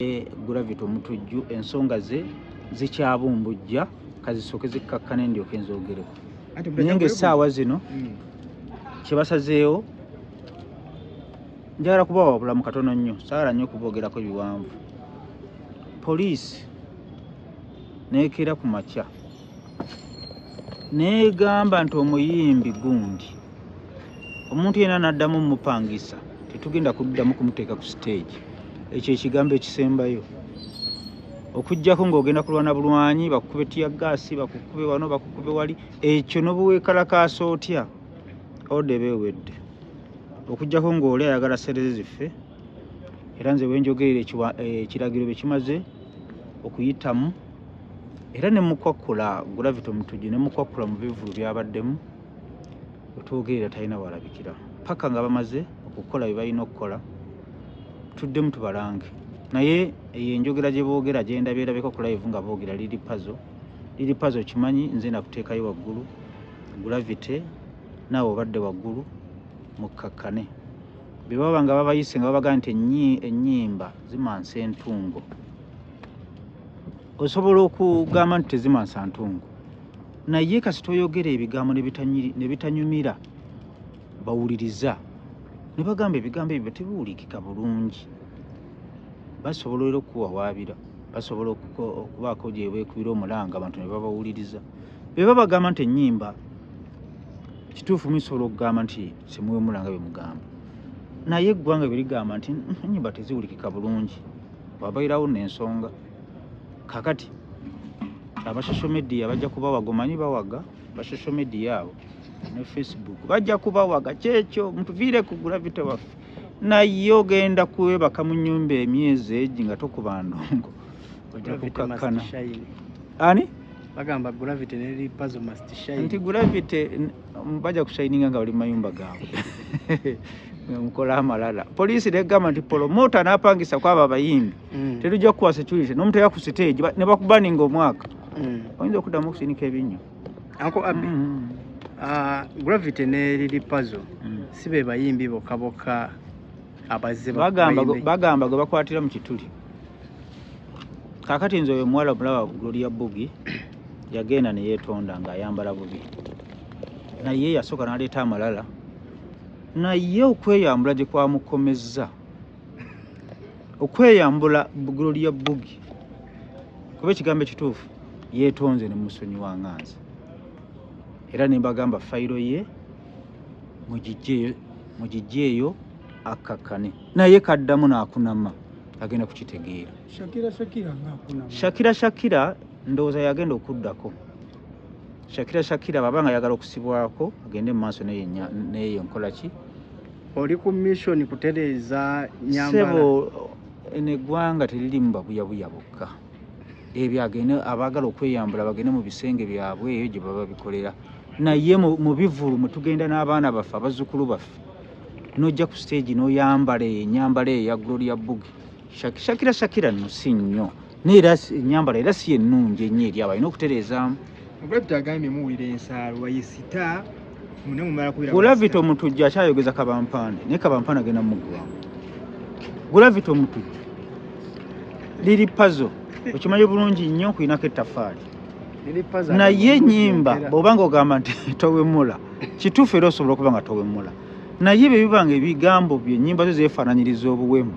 Gravity Omutujju ensonga ze zikyabumbujja kazisooke zikkakkane ndyoka enzoogereko naye ng'essaawa zino hmm. kyebasazeewo njagala kubawa obulamu katono nnyo saala nnyo okuboogerako ebiwanvu poliisi neekeera ku makya negamba nti omuyimbi gundi omuntu yena naddamu mupangisa tetugenda kuddamu kumuteeka ku siteegi ekyo ekigambo ekisembayo okujjako ngaogenda kulwana bulwanyi bakukube tiya gaasi bakukube wano bakukube wali ekyo nobuwekalakaasa otya odeba ewedde okujjako ngaoli ayagala sereze ziffe era nze wenjogerera ekiragiro eh, bekimaze okuyitamu era ne mukwakkula gulavita omutujju ne mukwakkula mu bivulu byabaddemu wetwogerera talina walabikira paka nga bamaze okukola bye balina okukola tuddemu tubalange naye eyo enjogera gye boogera gyendabeerabeko ku live nga boogera liri pazo liri pazo okimanyi nze nakuteekayo waggulu gulavite naawe obadde waggulu mukkakkane bye baba nga babayise nga babagaa nti ennyimba zimansa entungo osobola okugamba nti tezimansa ntungu naye kasita oyogera ebigambo ne bitanyumira bawuliriza ne bagamba ebigambo ebyo tebiwulikika bulungi basobola era okukuwawaabira basobola okubaako gyebeekubira omulanga abantu ne babawuliriza be babagamba nti ennyimba kituufu musobola okugamba nti simuwemulanga bye mugamba naye eggwanga bye ligamba nti ennyimba teziwulikika bulungi wabairawo nensonga kakati aba social media bajja kubawaga omanyi bawaga ba social media abo ne facebook bajja kubawaga kyekyo mutuviire ku gravity waffe naye ogenda kwebaka mu nyumba emyezi egi nga tokuba ndongo ojja kukakkana ani bagamba gravity neri pazo must shine nti gravity bajja kushayininga nga bali mu mayumba gaabwe mukola amalala poliisi negamba nti polomota napangisa kwabo abayimbi mm. tetujja kukuwa security nomuteka ku stage nebakubaninga omwaka mm. oyinza okuddamu okusinika ebinnyo ako abi mm. ah, gravity ne lili pazo si be bayimbi bokka bokka abazze bagamba gwe bakwatira mu kituli kakati nze oyo omuwala omulaba gloria bugi yagenda neyetonda nga ayambala bubi naye yasooka naleeta amalala naye okweyambula gyekwamukomezza okweyambula bugiro lya bugi kuba ekigambo ekituufu yetonze nemusonyi wa nganzi era nembagamba fayiro ye mugijje eyo akkakkane naye kaddamu nakunama agenda kukitegeera shakira shakira ndowooza yagenda okuddako shakira shakira baba nga yagala okusibwako agende mu maaso neyo nkola ki oli ku mission kutereeza nyambasebo eno eggwanga teririmu babuyabuya bokka ebyo agende abaagala okweyambula bagende mu bisenge byabwe eyo gye baba bikolera naye mu bivulu mwe tugenda n'abaana baffe abazzukulu baffe n'ojja ku siteegi n'oyambala enyambala eyo ya gloria bugi shakira shakira no si nnyo naye era ennyambala era si ennungi ennyo eri abalina okutereezaamu obulabita agambye muwulira ensaalo waye sita gulavita omutujju akyayogeza kabampaane naye kabampaane agenda mumuggwamu gulavita omutujju liri pazo okimanyi bulungi nnyo okulinako ettafaali naye enyimba bwoba nga ogamba nti towemula kituufu era osobola okuba nga towemula naye bye bibanga ebigambo byo ennyimba zo zeefaananyiriza obuwemu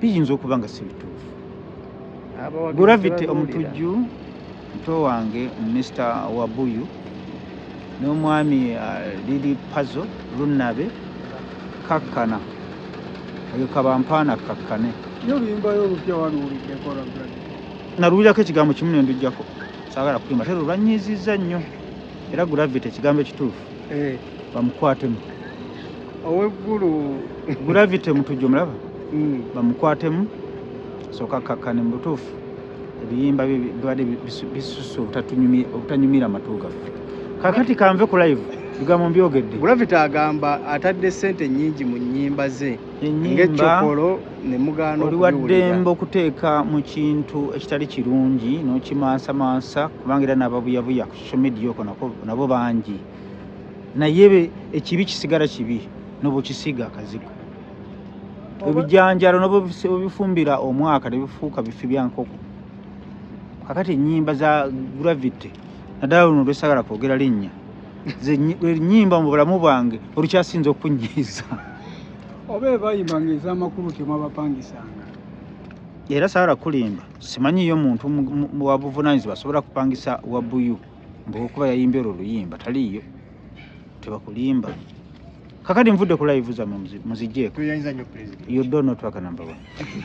biyinza okuba nga si bituufu gravity omutujju muto wange mr wabuyu n'omwami uh, lili pazo lunabe kakkana oyo kabampaana kakkane naluwulirako ekigambo kimu nendujjako sagala kuyimba tero lwanyiizizza nnyo era gravity ekigambo ekituufu eh. bamukwatemu oweggulu gravity mutujju mulaba hmm. bamukwatemu soka kakkane mu butuufu ebiyimba bibadde bisusa obutanyumira amatu gaffe kakati kanve ku live bigambo mbyogedde gravity agamba atadde sente nyingi mu nyimba ze ngaekyokolo nemugana oli waddembe okuteeka mu kintu ekitali kirungi nokimansamansa kubanga era nababuyabuya social media oko nako nabo bangi naye ekibi kisigala kibi nobukisiga akazigo ebijanjalo nobifumbira omwaka nebifuuka bifi byankoko kakati enyimba za gravity naddala luno lwesagala kwogera linnya enyimba mu bulamu bwange olukyasinza okunyiiza oba ebayimba nga ezamakulu temwabapangisanga era sagala kulimba simanyi yo muntu wabuvunanyizibwa asobola kupangisa wabuyu mbuokuba yayimbye olwo oluyimba taliiyo tebakulimba kakati nvudde ku live zamwe muzijjeeko you don't know twaka number one